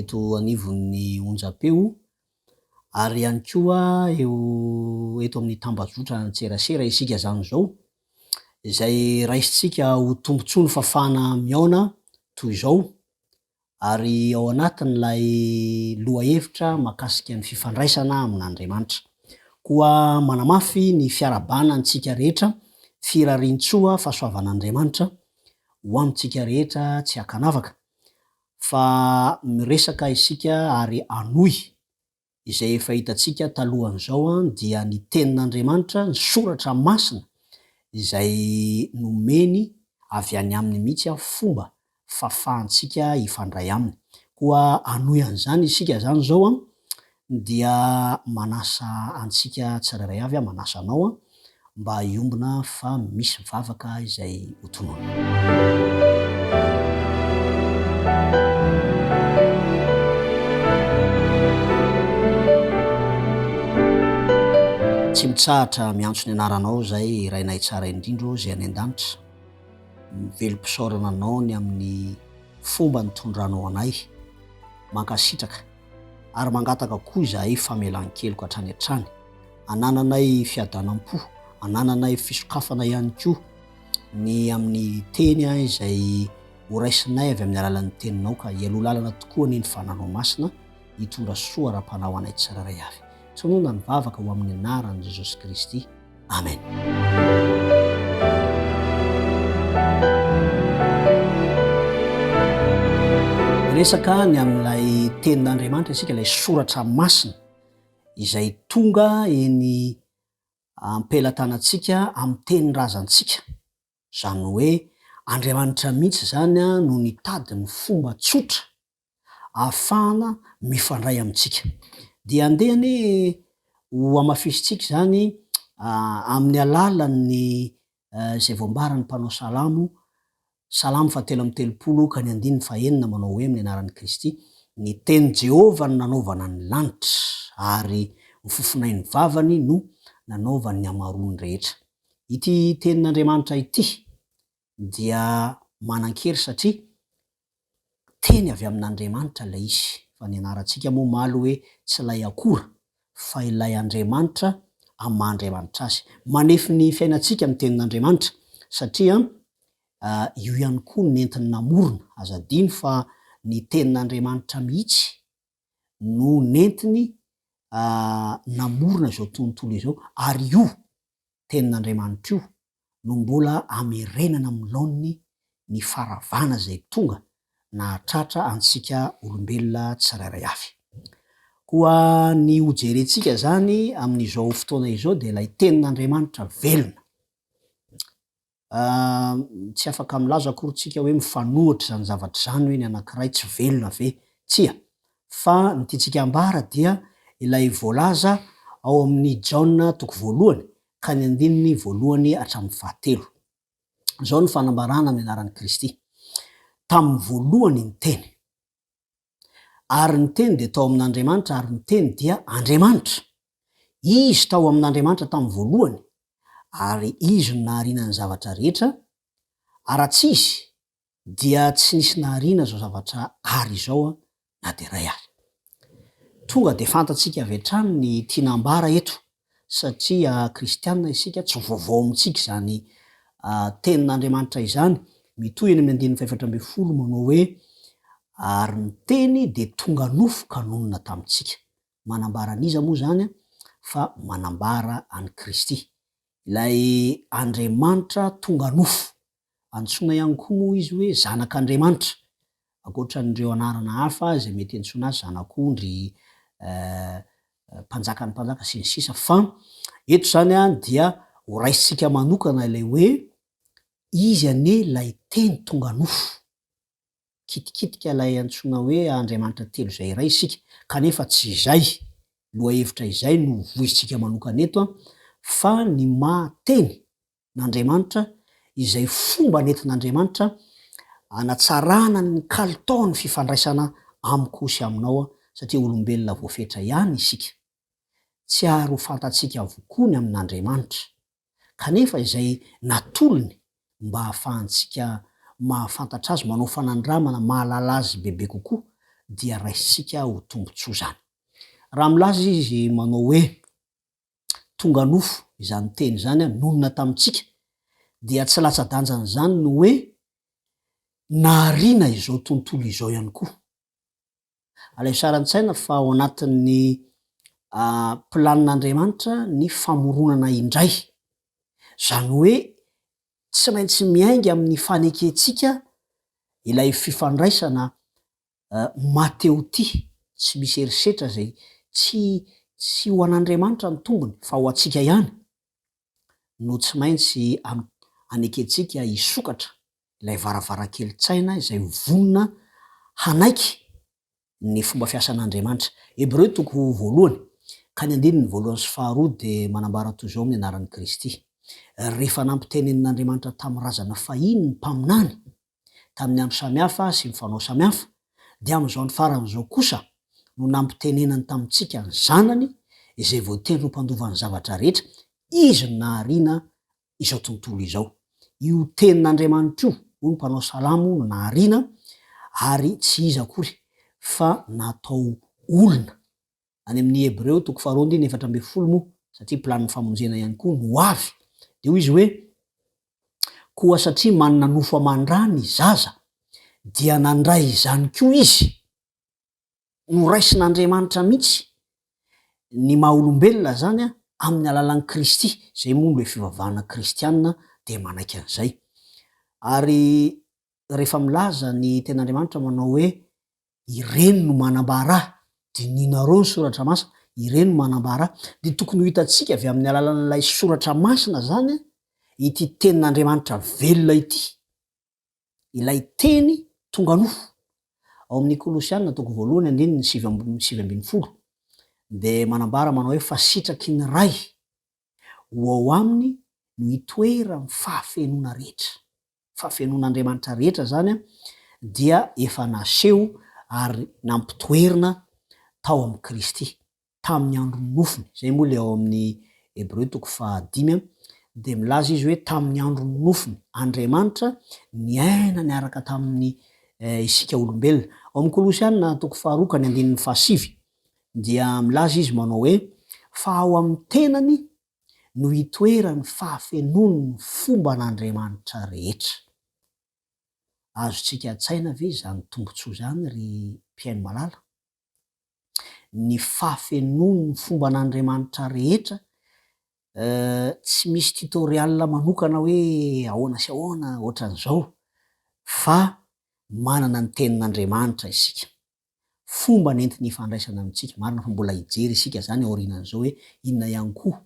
eto anivon'ny onjampeo ary ihany koa eo eto amin'ny tambajotran-tserasera isika izany izao, izay raisintsika ho tombontsoa ny fafana mihaona toy izao ary ao anatin'ilay lohahevitra mahakasika ny fifandraisana amin'Andriamanitra. Koa manamafy ny fiarahabana antsika rehetra firariantsoa fahasoavan'Andriamanitra ho amintsika rehetra tsy ankanavaka fa miresaka isika ary hanohy izay efa hitantsika talohan'izao dia ny tenin'Andriamanitra, ny soratra masina izay nomeny avy any aminy mihitsy fomba fafahantsika hifandray aminy. Koa hanohy an'izany isika izany izao dia manasa antsika tsirairay avy aho, manasa anao aho mba hiombona fa misy vavaka izay ho tononina. Tsy mitsahatra miantso ny anaranao izay Rainay tsara indrindra ô izay any an-danitra. Mivelom-pisaorana anao ny amin'ny fomba nitondranao anay. Mankasitraka. ary mangataka koa izahay famelan-keloka hatrany hatrany, anananay fiadanam-po, anananay fisokafana ihany koa ny amin'ny teny izay horaisinay avy amin'ny alalan'ny teninao, ka hialoha lalana tokoa anie ny fananao masina hitondra soa ara-panahy ho anay tsirairay avy. Tononina ny vavaka ho amin'ny anaran'i Jesosy Kristy. Amena-resaka ny amin'ilay tenin'andriamanitra isika ilay soratra masina izay tonga eny ampelatanantsika amin'ny teny razantsika izany hoe andriamanitra mihitsy izany no nitady ny fomba tsotra ahafahana mifandray amintsika. Dia andeha anie ho amafisintsika izany amin'ny alalan'ny izay voambaran'ny mpanao salamo, Salamo fahatelo amby telopolo ka ny andininy fahenina manao hoe amin'ny anaran'i Kristy, Ny tenin'i Jehovah no nanaovana ny lanitra, ary ny fofonain'ny vavany no nanaovany ny hamaroany rehetra. Ity tenin'Andriamanitra ity dia manan-kery satria teny avy amin'Andriamanitra ilay izy. Fa ny anarantsika moa omaly hoe tsy ilay akora fa ilay Andriamanitra amin'ny maha Andriamanitra azy. Manefy ny fiainantsika ny tenin'Andriamanitra satria io ihany koa nentiny namorona. Aza adino fa ny tenin'Andriamanitra mihitsy no nentiny namorona izao tontolo izao ary io Tenin'Andriamanitr'io no mbola amerenana amin'ny laoniny ny faharavana izay tonga nahatratra antsika olombelona tsirairay avy. Koa ny hojerentsika izany amin'izao fotoana izao dia ilay Tenin'Andriamanitra velona. Aah, tsy afaka milaza akory tsika hoe mifanohitra izany zavatra izany hoe ny anankiray tsy velona ve? Tsia. Fa ny tiantsika ambara dia ilay voalaza ao amin'ny Jaona toko voalohany ka ny andininy voalohany hatramin'ny fahatelo. Izao no fanambarana amin'ny anaran'i Kristy, Tamin'ny voalohany ny Teny. Ary ny Teny dia tao amin'Andriamanitra, ary ny Teny dia Andriamanitra. Izy tao amin'Andriamanitra tamin'ny voalohany, ary Izy no nahariana ny zavatra rehetra, ary raha tsy Izy, dia tsy nisy nahariana izao zavatra àry izao na dia iray àry. Tonga dia fantatsika avy hatrany ny tiana ambara eto. Satria kristiana isika, tsy vaovao amintsika izany Tenin'Andriamanitra izany. Mitohy eny amin'ny andininy fahefatra ambin'ny folo manao hoe, Ary ny Teny dia tonga nofo ka nonina tamintsika. Manambara an'iza moa izany? Fa manambara an'i Kristy, ilay Andriamanitra tonga nofo. Antsoina ihany koa moa izy hoe Zanak'Andriamanitra, ankoatra an'ireo anarana hafa izay mety iantsoana azy, Zanak'ondry, Mpanjakan'ny mpanjaka, sy ny sisa Fa eto izany dia horaisintsika manokana ilay hoe Izy anie ilay Teny tonga nofo. Mikitikitika ilay antsoina hoe Andriamanitra telo izay iray isika, kanefa tsy izay. Lohahevitra izay no hovoizintsika manokana eto, fa ny maha Teny n'Andriamanitra, izay fomba nentin'Andriamanitra hanatsarana ny kalitaon'ny fifandraisana amiko sy aminao, satria olombelona voafetra ihany isika. Tsy ary ho fantatsika avokoa ny amin'Andriamanitra, kanefa izay natolony mba hahafahantsika mahafantatra Azy, manao fanandramana mahalala Azy bebe kokoa, dia raisintsika ho tombontsoa izany. Raha milaza Izy manao hoe. tonga nofo izany teny izany nonina tamintsika, dia tsy latsa-danjan'izany ny hoe nahariana izao tontolo izao ihany koa. Alaivo sary an-tsaina fa ao anatin'ny planin'Andriamanitra ny famoronana indray, izany hoe tsy maintsy miainga amin'ny fanekentsika ilay fifandraisana Ho maty eo ity, tsy misy herisetra izay tsy tsy ho an'Andriamanitra ny tombony fa ho antsika ihany no tsy maintsy anekentsika hisokatra ilay varavarankelin-tsaina izay vonona hanaiky ny fomba fiasan'Andriamanitra. Hebreo toko voalohany ka ny andininy voalohany sy faharoa dia manambara toy izao amin'ny anaran'i Kristy, Rehefa nampitenenin'Andriamanitra tamin'ny razana fahiny ny mpaminany, tamin'ny andro samihafa sy ny fanao samihafa, dia amin'izao andro farany izao kosa no nampitenenany tamintsika ny Zanany izay voatery ho mpandova ny zavatra rehetra, Izy no nahariana izao tontolo izao. Io Tenin'Andriamanitra io, hoy ny mpanao salamo, no nahariana, ary tsy iza akory fa natao olona. any amin'ny Hebreo toko faharoa andininy efatra ambin'ny folo moa, satria planin'ny famonjena ihany koa no ho avy, dia hoy izy hoe, Koa satria manana nofo aman-dra ny zaza, dia nandray izany koa izy. Noraisin'Andriamanitra mihitsy ny maha-olombelona izany amin'ny alalan'i Kristy, izay moa ilay fivavahana kristiana dia manaiky an'izay. Ary rehefa milaza ny Tenin'Andriamanitra manao hoe, ireny no manambara, dininareo ny soratra masina, ireny no manambara, dia tokony ho hitantsika avy amin'ny alalan'ilay soratra masina izany ity tenin'Andriamanitra velona ity, ilay teny tonga nofo. Ao amin'ny Kolosiana toko voalohany andininy sivy ambin'ny sivy ambin'ny folo dia manambara manao hoe fa sitraky ny Ray ho ao aminy no itoeran'ny fahafenoana rehetra. fahafenoan'Andriamanitra rehetra izany dia efa naseho ary nampitoerina tao amin'i Kristy tamin'ny andron'ny nofony. Izay moa ilay ao amin'ny Hebreo toko fahadimy dia milaza izy hoe tamin'ny andron'ny nofony. Andriamanitra niaina niaraka tamin'ny eh, isika olombelona. Ao amin'ny Kolosiana toko faharoa ka ny andininy fahasivy dia milaza izy manao hoe fa ao amin'ny tenany no itoeran'ny fahafenoan'ny fomban'Andriamanitra rehetra. Azontsika an-tsaina ve izany tombontsoa izany, ry mpihaino malala? Ny fahafenoan'ny fomban'Andriamanitra rehetra, tsy misy tutorial manokana hoe ahoana sy ahoana ohatran'izao, fa manana ny Tenin'Andriamanitra isika. fomba nentiny hifandraisana amintsika. Marina fa mbola hijery isika izany aorianan'izao hoe inona ihany koa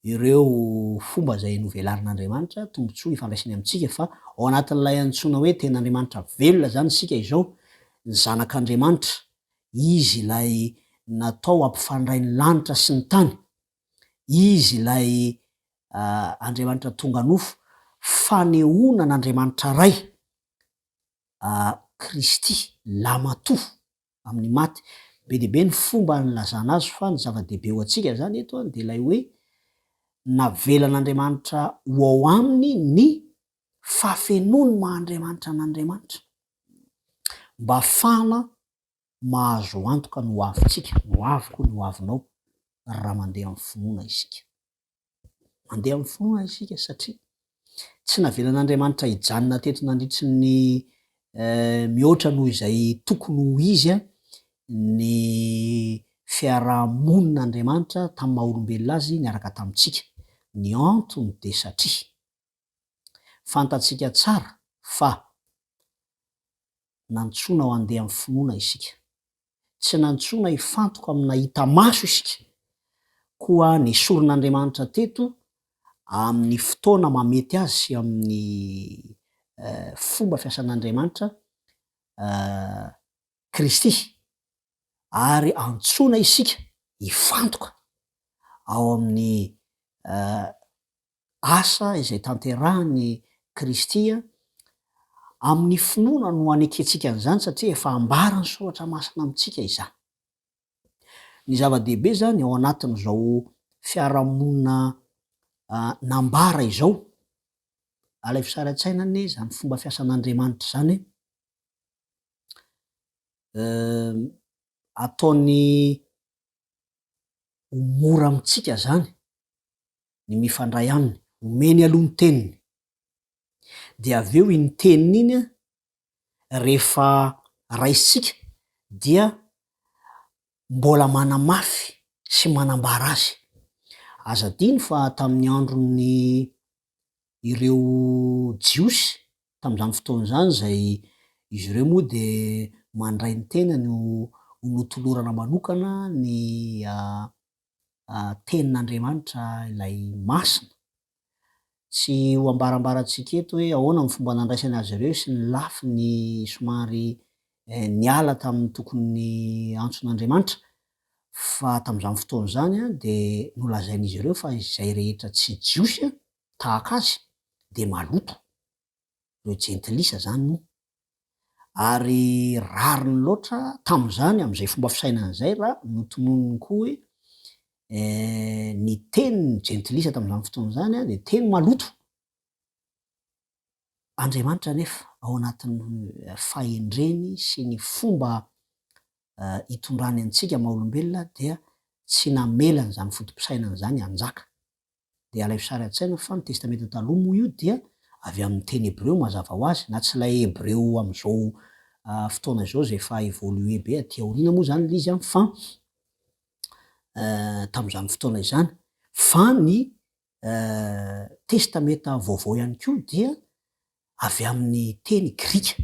ireo fomba izay novelarin'Andriamanitra tombontsoa hifandraisany amintsika fa ao anatin'ilay antsoina hoe ten'Andriamanitra velona izany isika izao, ny zanak'Andriamanitra, Izy ilay natao hampifandray ny lanitra sy ny tany, Izy ilay Andriamanitra tonga nofo, fanehoana an'Andriamanitra Ray Kristy, Lahimatoa amin'ny maty. Be dia be ny fomba nilazana azy fa ny zava-dehibe ho antsika izany eto dia ilay hoe navelan'Andriamanitra ho ao aminy ny fahafenoan'ny maha-Andriamanitra an'Andriamanitra mba hahafahana mahazo antoka ny hoavintsika, ny hoaviko, ny hoavinao raha mandeha amin'ny finoana isika. Mandeha amin'ny fo isika satria tsy navelan'Andriamanitra hijanona teto nandritry ny mihoatra noho izay tokony ho izy ny fiaraha-monin'Andriamanitra tamin'ny maha-olombelona azy niaraka tamintsika. Ny antony dia satria. Fantatsika tsara fa nantsoina ho andeha amin'ny finoana isika. Tsy nantsoina hifantoka amin'ny nahita maso isika, koa nesorin'Andriamanitra teto amin'ny fotoana mahamety azy sy amin'ny fomba fiasan'Andriamanitra Kristy, ary antsoina isika hifantoka ao amin'ny asa izay tanterahin'i Kristy amin'ny finoana no anekentsika an'izany satria efa ambaran'ny Soratra Masina amintsika izany. Ny zava-dehibe izany ao anatin'izao fiarahamonina nambara izao, alaivo sary an-tsaina anie izany fomba fiasan'Andriamanitra izany, ataony ho mora amintsika izany ny mifandray aminy, omeny aloha ny teniny, dia avy eo iny teniny iny an, rehefa raisitsika dia mbola manamafy sy manambara azy. Aza adino fa tamin'ny andron'ny ireo Jiosy tamin'izany fotoana izany izay izy ireo moa dia mandray ny tenany ho notolorana manokana ny Tenin'Andriamanitra ilay masina. Tsy ho ambarambarantsika eto hoe ahoana ny fomba nandraisany azy ireo sy ny lafiny somary niala tamin'ny tokony antson'Andriamanitra, fa tamin'izany fotoana izany dia nolazain'izy ireo fa izay rehetra tsy Jiosy tahaka azy dia maloto. no jentilisa zany moa ary rariny loatra tamin'izany amin'izay fomba fisainany izay raha notononiny koa hoe ny teny jentilisa tamin'izany fotoana izany a dia teny maloto Andriamanitra anefa ao anatin'ny fahendreny sy ny fomba hitondrany antsika maha olombelona dia tsy namela an'izany foto-pisainany izany hanjaka Dia ilay sary an-tsaina fa ny Testamenta Taloha moa io dia avy amin'ny teny hebreo mazava ho azy, na tsy ilay hebreo amin'izao fotoana izao izay efa évolué be aty aoriana moa izany ilay izy an, fa tamin'izany fotoana izany. Fa ny Testamenta Vaovao ihany koa dia avy amin'ny teny grika,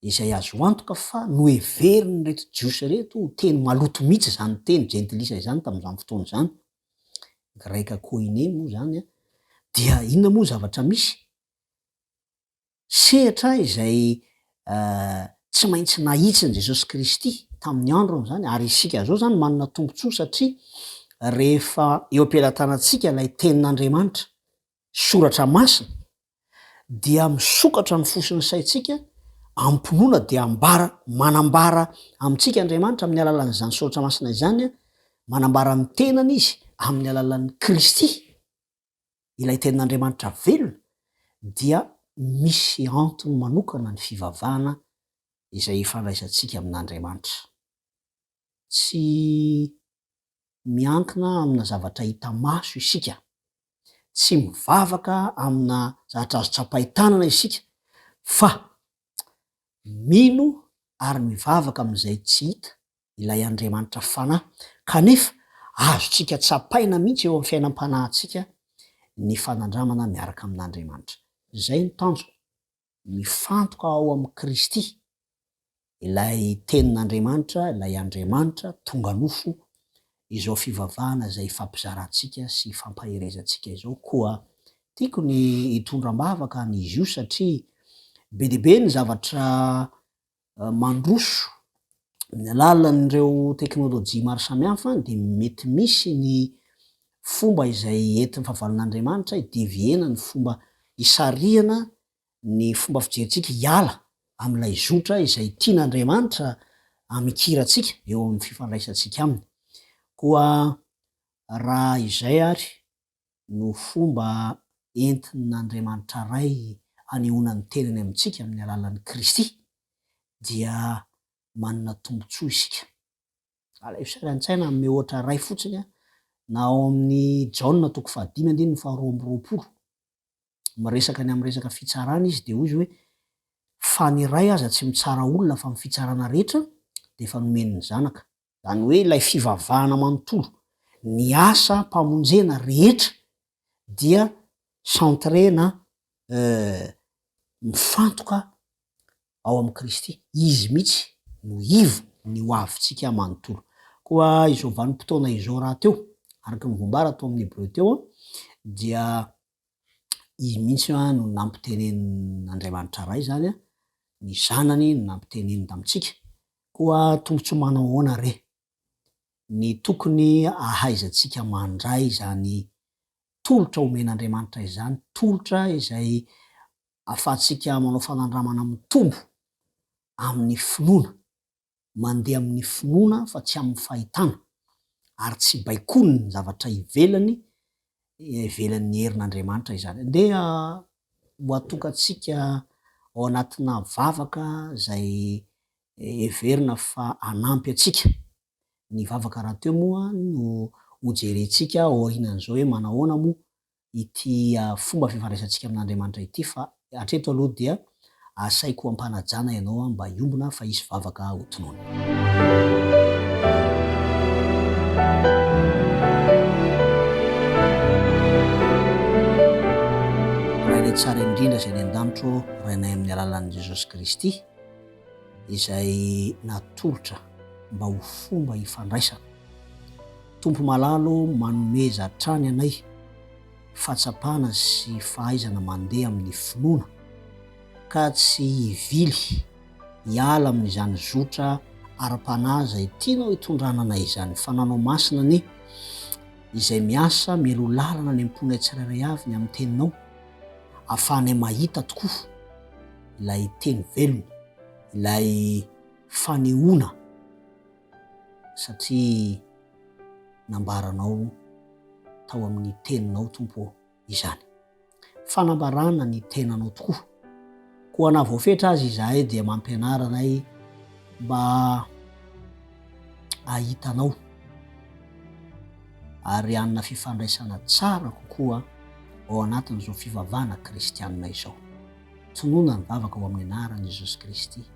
izay azo antoka fa noheverin'ireto Jiosy ireto ho teny maloto mihitsy izany teny jentilisa izany tamin'izany fotoana izany. Greka koine moa izany an, dia inona moa ny zavatra misy? Sehatra izay tsy maintsy nahitsin'i Jesosy Kristy tamin'ny androny izany, ary isika izao izany manana tombontsoa satria rehefa eo am-pelatanantsika ilay Tenin'Andriamanitra Soratra Masina dia misokatra ny fo sy ny saintsika amim-pinoana dia ambara, manambara amintsika Andriamanitra amin'ny alalan'izany Soratra Masina izany, manambara ny tenany izy amin'ny alalan'ny Kristy, ilay Tenin'Andriamanitra velona, dia misy antony manokana ny fivavahana izay ifandraisantsika amin'Andriamanitra. tsy miankina amina zavatra hita maso isika. Tsy mivavaka amina zavatra azo tsapain-tanana isika, fa mino ary mivavaka amin'izay tsy hita, ilay Andriamanitra Fanahy. Kanefa, azontsika tsapaina mihitsy eo amin'ny fiainam-panahintsika ny fanandramana miaraka amin'Andriamanitra. Izay no tanjona. Mifantoka ao amin'i Kristy, ilay Tenin'Andriamanitra, ilay Andriamanitra tonga nofo, izao fivavahana izay ifampizarantsika sy ifampaherezantsika izao. Koa tiako ny hitondra am-bavaka an'izy io satria be dia be ny zavatra mandroso amin'ny alalan'ireo teknolojia maro samihafa dia mety misy ny fomba izay entin'ny fahavalon'Andriamanitra hi-devier-na ny fomba hisarihana ny fomba fijerintsika hiala amin'ilay zotra izay tian'Andriamanitra hamikirantsika eo amin'ny fifandraisantsika Aminy. Koa raha izay àry no fomba entin'Andriamanitra Ray hanehoana ny tenany amintsika amin'ny alalan'i Kristy dia manana tombontsoa isika. Alaivo saina an-tsaina amin'ny ohatra iray fotsiny na ao amin'ny Jaona toko fahadimy andininy faharoa amby roapolo. Miresaka ny amin'ny resaka fitsarana izy dia hoy izy hoe, Fa ny Ray aza tsy mitsara olona fa ny fitsarana rehetra dia efa nomeny ny Zanaka. zany hoe ilay fivavahana manontolo, ny asa mpamonjena rehetra dia centre na mifantoka ao amin'i Kristy, Izy mihitsy no ivo ny ho avintsika manontolo. Koa izao vanim-potoana izao rahateo, araka ny voambara tao amin'ny Hebreo teo, dia Izy mihitsy no nampitenenin'Andriamanitra Ray izany, ny Zanany no nampiteneniny tamintsika, Koa tombontsoa manao ahoana re ny tokony ahaizantsika mandray izany tolotra omen'Andriamanitra izany, tolotra izay ahafahantsika manao fanandramana mitombo amin'ny finoana, mandeha amin'ny finoana fa tsy amin'ny fahitana, ary tsy baikoin'ny zavatra ivelany ivelan'ny herin'Andriamanitra izany. Ndeha ho atongantsika ao anatina vavaka izay heverina fa hanampy antsika. Ny vavaka rahateo moa no hojerentsika aorianan'izao hoe manahoana moa ity fomba fifandraisantsika amin'Andriamanitra ity fa Hatreto aloha dia asaiko ampanajana ianao mba hiombona fa hisy vavaka ho tonony. Rainay tsara indrindra izay any an-danitra ô Rainay amin'ny alalan'i Jesosy Kristy izay natolotra mba ho fomba hifandraisana. Tompo malala ô manomeza hatrany anay. fahatsapana sy fahaizana mandeha amin'ny finoana ka tsy hivily hiala amin'izany zotra ara-panahy izay tianao hitondranana izany. Fananao masina anie izay miasa mialoha lalana ny am-ponay tsirairay avy ny amin'ny teninao ahafahanay mahita tokoa ilay teny velona, ilay fanehoana. satria nambaranao tao amin'ny teninao tompo izany fanambarana ny tenanao tokoa koa na voafetra azy izahay dia mampianara anay mba ahitanao ary anna fifandraisana tsara kokoa ao anatin'izao fivavana kristianina izao tonona ny vavaka ao amin'ny anaran'i jesosy kristy